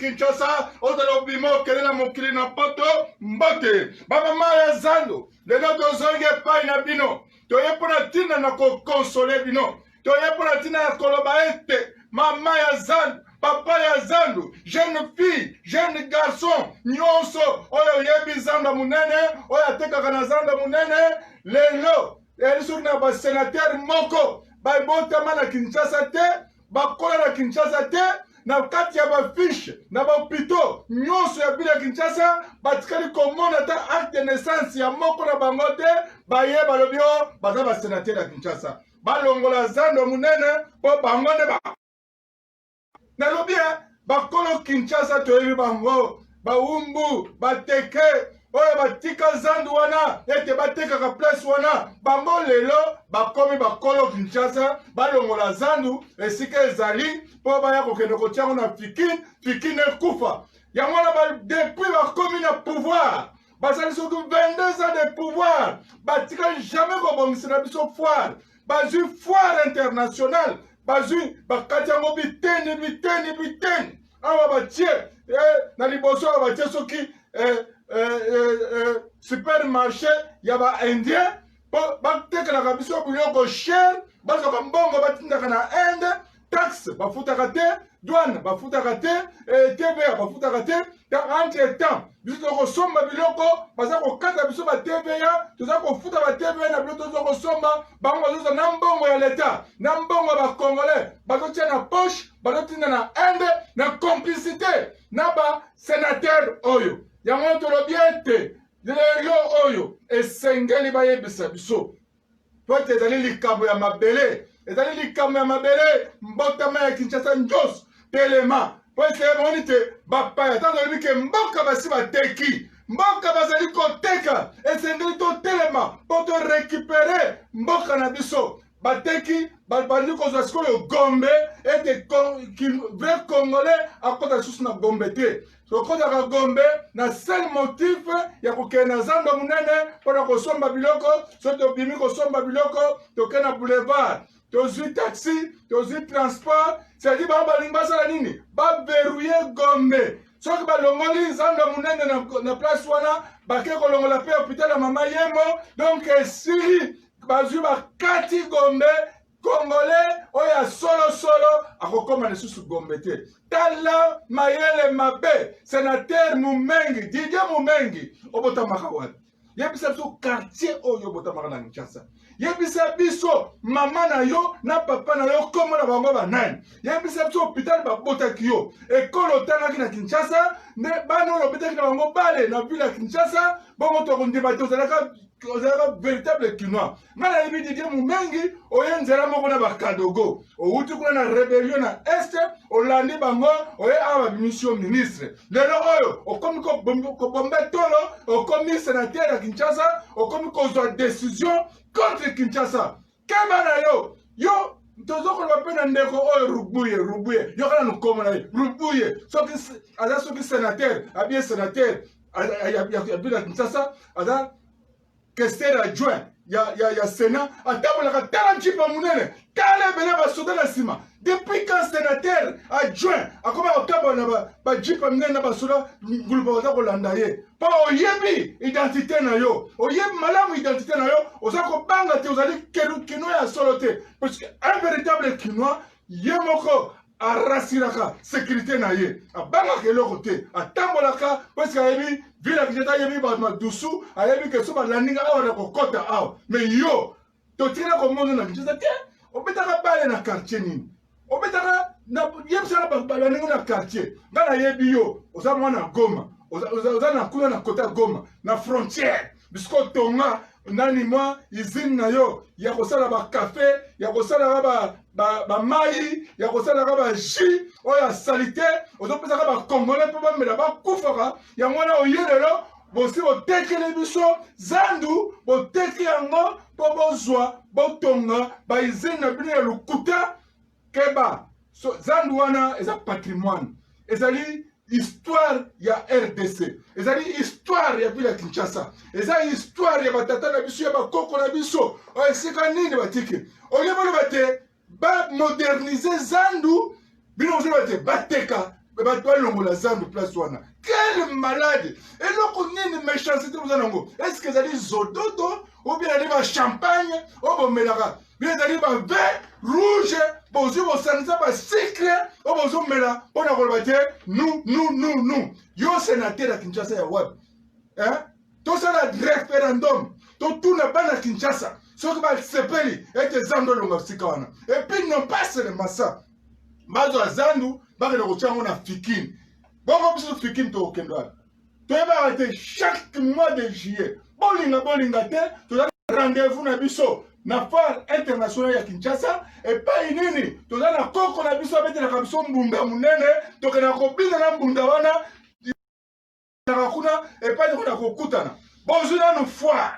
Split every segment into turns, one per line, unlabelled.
kinshasa ozala obima okende na mokili na poto mbote bamama ya zando lelo tozongi epai na bino toye mpo na ntina na kokonsole bino toye mpo na ntina ya koloba ete mama ya zandu papa ya zandu jeune fille jeune garçon nyonso oyo oyebi zando ya monene oyo atekaka na zando ya monene lelo eli soki na basenatere moko babotama na kinshasa te bakola na kinshasa te na kati ya bafishe na bahopito nyonso ya bino ya kinshasa batikali komona ata acte de naissance ya moko na bango te baye balobi o oh, baza basenatere ya kinshasa balongola zando monene mpo bango nde ba nalobi ya eh, bakolo kinshasa toyebi bango bawumbu bateke oyo batika zandu wana ete batekaka place wana bango lelo bakomi bakolo kinshasa balongola zandu esika ezali mpo baya kokende kotiango na fikin fikin ekufa yango wana depuis bakomi na pouvoir bazali soki 22 ans de pouvoir batikali jamais kobongisela biso foire bazwi foire internationale bazwi bakati yango biteni biteni biteni awa batie eh, na liboso awa batie soki eh, eh, eh, eh, supermarché ya baindien mpo batekelaka biso biloko chere bazwaka mbongo batindaka na inde taxe bafutaka te douane bafutaka te eh, tva bafutaka te entre temps biso toza kosomba biloko baza kokata biso ba tva toza kofuta ba tva na biloko toza kosomba bango bazoza na mbongo ya leta na mbongo ya bacongolais bazotia na poche bazotinda na inde na complicité na basenatere oyo yango tolobi ete lelo oyo esengeli bayebisa biso mpo ete ezali likabo ya mabele ezali likabo ya mabele mbotama ya kinshasa nyonso telema mpo ete emoni te bapaya ntango olobi ke mboka basi bateki mboka bazali koteka esengeli totelema mpo torekipere mboka na biso bateki babandi kozwa sikoyo gombe ete vrai congolais akota lisusu na gombe te tokozaka gombe na sel motif ya kokende na zamba monene mpo na kosomba biloko soki tobimi kosomba biloko toke na boulevard tozwi taxi tozwi transport sedi bango balingi basala nini baverrouye gombe soki balongoli zamba monene na, na place wana bake kolongola mpe hopital ya mama yemo donk esili bazwi bakati gombe Congolais oyo ya solosolo akokoma lisusu Gombe te. Tala mayele mabe senateur Mumengi, Didier Mumengi, obotamaka wapi? Yebisa biso quartier oyo obotamaka na Kinshasa. Yebisa biso mama na yo na papa na yo kombo na bango banani. Yebisa biso hôpital babotaki yo. Ekolo otangaki na Kinshasa, nde bana oyo obetaki na bango bale na ville ya Kinshasa, bongo tokondima te ozalaka ozalaka véritable kinois. nga nayebi didie mumengi oye nzela moko na bakadogo owuti kuna na rebellion na este olandi bango oye awa babimisi yo ministre lelo oyo okomi kobombe tolo okomi senatere ya kinshasa okomi kozwa decision contre kinshasa keba na yo yo tozokoloba mpe na ndeko oyo rubuye rubuye yokana nokoma na ye rubuye soki aza soki senatere abie senatere ya bino ya kinshasa aza Kester adjoint ya, ya, ya Sénat atambolaka tala jipe monene tala ebele basoda na nsima depuis quand sénateur adjoint akoma kotambola na bajipe ba minene na basoda ngulupa baza kolanda ye mpo oyebi identité na yo oyebi malamu identité na yo oza kobanga te ozali kinois ya solo te parce que un véritable kinois ye moko arasiraka sekirite na ye abangaka eloko te atambolaka parce ayebi vila kinshasa ayebi bato madusu ayebi ke so balandinga awa na kokɔta awa me yo totikala komona na kinshasa te obetaka bale na quartier nini obetaka yebisaka bato balandinga na quartier ngai nayebi yo oza mwana goma oza na kuna na kota goma na frontière bisika otonga nani mwa izine na yo ya kosala bakafe ya kosalaka bamai ba, ba, ba ya kosalaka bajus oyo ya salite ozopesaka bakongole mpo bamela bakufaka yango wana oye lelo bosi botekeli biso zandu boteki yango mpo bozwa botonga baizine na bino ya lokuta Keba, so, zandu wana eza patrimoine, ezali histoire ya rdc ezali histoire ya ville ya kinshasa eza histoire ya batata na biso ya bakoko na biso oyo esika nini batiki olie boloba te bamodernise zandu bino ozoloba te bateka bato balongola zandu place wana quel malade eloko nini méchancité boza nango estce ezali zododo obien ezali bachampagne oyo bomelaka bino ezali bavin rouge bozwi bosangisa basikre oyo bozomela mpo na koloba te nu nu nu nu yo senater ya kinshasa ya wapi eh? tosala referendum totuna bana kinshasa soki basepeli ete zando elonga sika wana epuis non pas selema sa bazwa zandu bakende kotya yango na fikine bongo biso fikine tokokende wapi toyebaka te chaque mois de juillet bolinga bolinga te toza rendez-vous na biso na foire internationale ya kinshasa epai nini toza na koko na biso abetelaka biso mbunda monene tokenda kobina na mbunda wana kuna epai tokenda kokutana bozwi nanu foire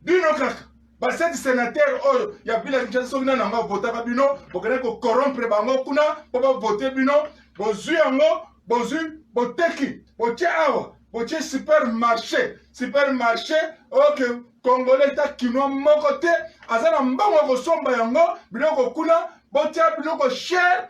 bino kaka baseti senatere oyo ya bila kinshasa soki nani yango avotaka bino bokende kokorompre bango kuna mpo bavote bino bozwi yango bozwi boteki botie awa botie supermarché supermarché oke okay. kongole ta kinois moko te aza na mbango ya kosomba yango biloko kuna botia biloko chere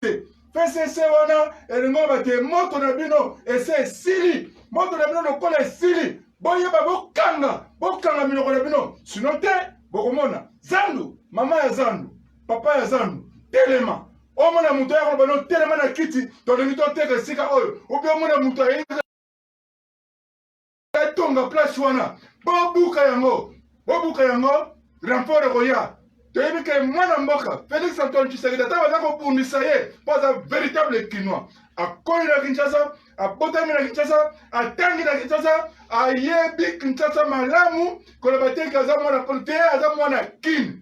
te pcc wana elingi oloba te moto na bino ese esili moto na bino lokola esili boyeba bokanga bokanga minoko na bino sino te bokomona zandu mama ya zandu papa ya zandu telema omona moto ya koloba no telema na kiti tolingi toteka esika oyo obi omona moto ayei etonga place wana bobuka yango bobuka yango renfort ekoya toyebi ke mwana mboka félix antoine tshisekedi ata baza kobundisa ye mpo aza véritable kinois akoli na kinshasa abotami na kinshasa atangi na kinshasa ayebi kinshasa malamu koloba teke aza mwana te aza mwana kine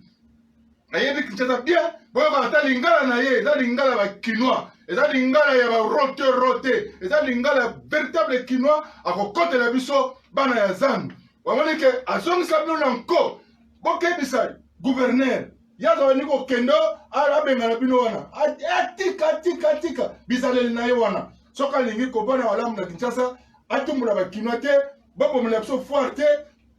nayebi kinshasa bien boyoka ata lingala na ye eza lingala ba kinois eza lingala ya barote rote eza lingala ya véritable kinois akokotela biso bana ya zando wamoni ke azongisa bino na nko bokebisa guverner ye azalani kokende abengana bino wana atika atika atika bizaleli na ye wana soki alingi kobana malamu na kinshasa atumbola bakinois te bobomela biso foire te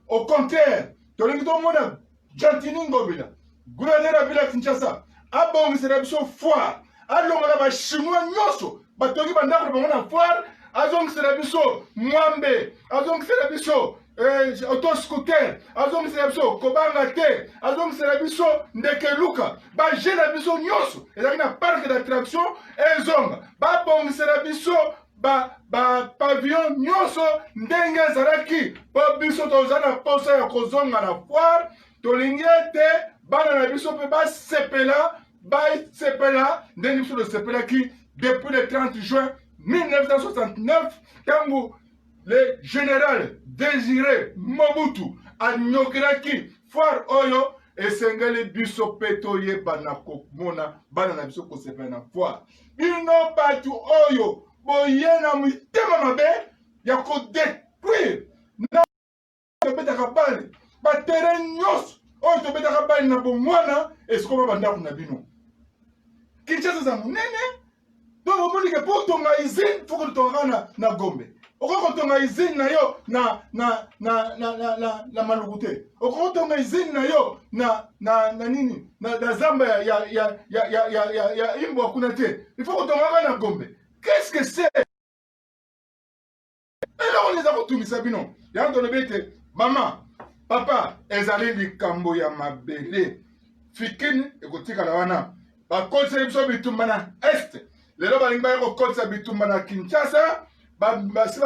au contraire tolingi tomona Gentini Ngobila, gouverneur ya ville ya Kinshasa, abongisela biso foire, alongola ba chinois nyonso batongi bandako na bango na foire, azongisela biso mwambe, azongisela biso eh, auto scooter, azongisela biso kobanga te, azongisela biso ndeke luka, baje na biso nyonso ezalaki na parc d'attraction ezonga, babongisela biso bapavillon ba nyonso ndenge ezalaki mpo biso toza na mposa ya kozonga na foire tolingi ete bana na biso mpe basepela basepela ndenge biso tosepelaki depuis le 30 juin 1969 ntango le général désiré mobutu anyokelaki foire oyo esengeli biso mpe toyeba na komona bana na biso kosepela na foire bino bato oyo boye na mitema mabe ya kodetruire na tobetaka bale batere nyonso oyo tobetaka bale na bomwana esikoma bandako na bino kinshasa eza monene donc omonike mpo tonga izine foko totongaka na gombe okoki kotonga izine na yo na na na na na, na, na maluku te okoki kotonga izine na yo na na na nini na, na zamba ya ya ya ya ya, ya, ya, ya imbwa kuna te il faut kotongaka na gombe qu'est-ce que c'est eloko nini eza kotungisa bino yango tolobi ete mama papa ezali likambo ya mabele fikini ekotikala wana bakotisaki biso bitumba na est lelo balingi baya kokotisa bitumba na kinshasa basi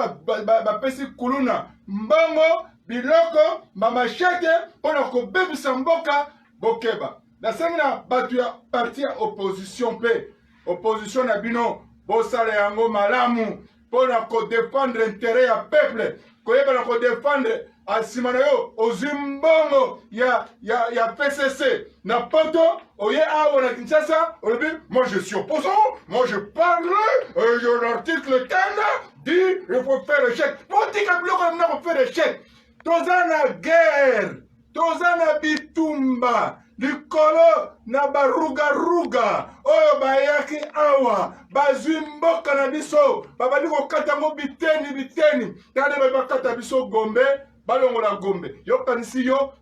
bapesi kuluna mbongo biloko bamashete mpo na kobebisa mboka bokeba nasengi na bato ya parti ya opposition mpe opposition na bino bosala yango malamu mpo na kodefendre intere ya peuple koyeba na kodefendre nsima na yo ozwi mbongo ya, ya, ya pcc na poto oye awa na kinshasa olobi moi je suis opposant moi je parle euh, de l'article tana dit il faut faire échec botika biloko na mna kofere échec toza na guerre toza na bitumba likolo na barugaruga oyo bayaki awa bazwi mboka na biso babandi kokata yango biteni biteni tande baye bakata biso gombe balongola gombe yokanisi yo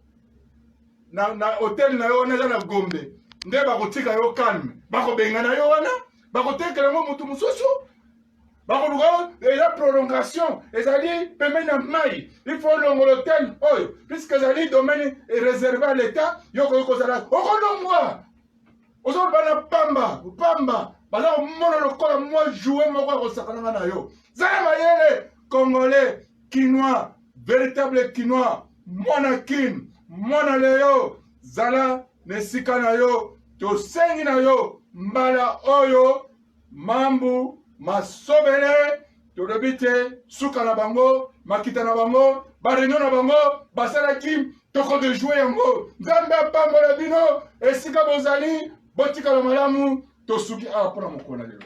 na, na hotel na yo wana eza na gombe nde bakotika yo calme bakobengana yo wana bakotekela yango motu mosusu bakoluka eza prolongation ezali pembeni na mai il faut longolo tene oyo puisque ezali domaine réserve à l'état yo okoki kozala okolongwa ozoloba na pamba pamba baza komona lokola mwa joue moko ya kosakananga na yo zala mayele congolais kinois véritable kinois mwana kin mwana leyo zala na esika na yo tosengi na yo mbala oyo mambu masobele tolobi te suka na bango makita na bango bareunion na bango basalaki toko de joue yango nzambe apambola bino esika bozali botikala malamu tosuki awa mpo na mokolo na lelo